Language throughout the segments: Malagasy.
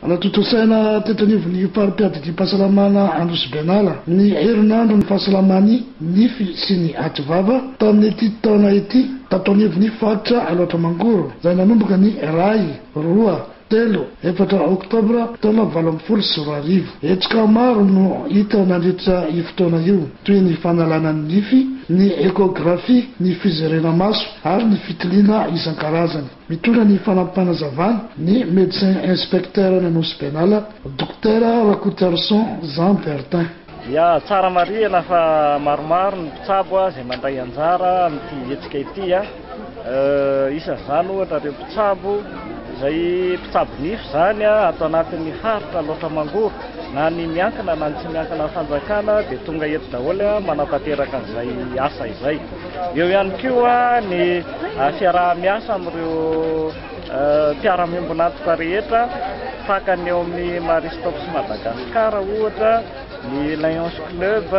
Hanatontosaina teto anivon'ny fari-piadidiam-pahasalamana Anosibenala ny herinandron'ny fahasalaman'ny nify sy ny ativava tamin'ity taona ity tato anivon'ny faritra Alaotra Mangoro izay nanomboka ny iray, roa, telo, efatra oktobra taona valo ambin'ny folo sy roa arivo. Hetsika maro no hita nandritra io fotoana io toy ny fanalana ny nify, ny échographie, ny fizerena maso ary ny fitiliana isan-karazany. Mitondra ny fanampim-panazavana ny Médecin Inspecteur any Anosy Benala, Dokotera Rakotoarison Jean Bertin. Ya, tsara marihina fa maromaro ny mpitsabo izay mandray anjara amin'ity hetsika ity. Isan'izany ohatra ireo mpitsabo izay mpitsabo nify izany ato anatin'ny faritra Alaotra Mangoro. Na ny miankina na ny tsy miankina fanjakana dia tonga eto daholo manatanteraka an'izay asa izay. Eo ihany koa ny fiaraha-miasa amin'ireo mpiara-miombon'antoka rehetra tahaka ny eo amin'ny Marie Stopes Madagascar ohatra, ny Lions Club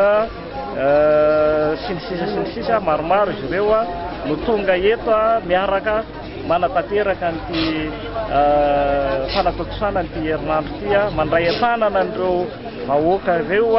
sy ny sisa sy ny sisa, maromaro izy ireo no tonga eto miaraka manatanteraka an'ity fanatontosana an'ity herinandro ity, mandray an-tanana an'ireo vahoaka ireo.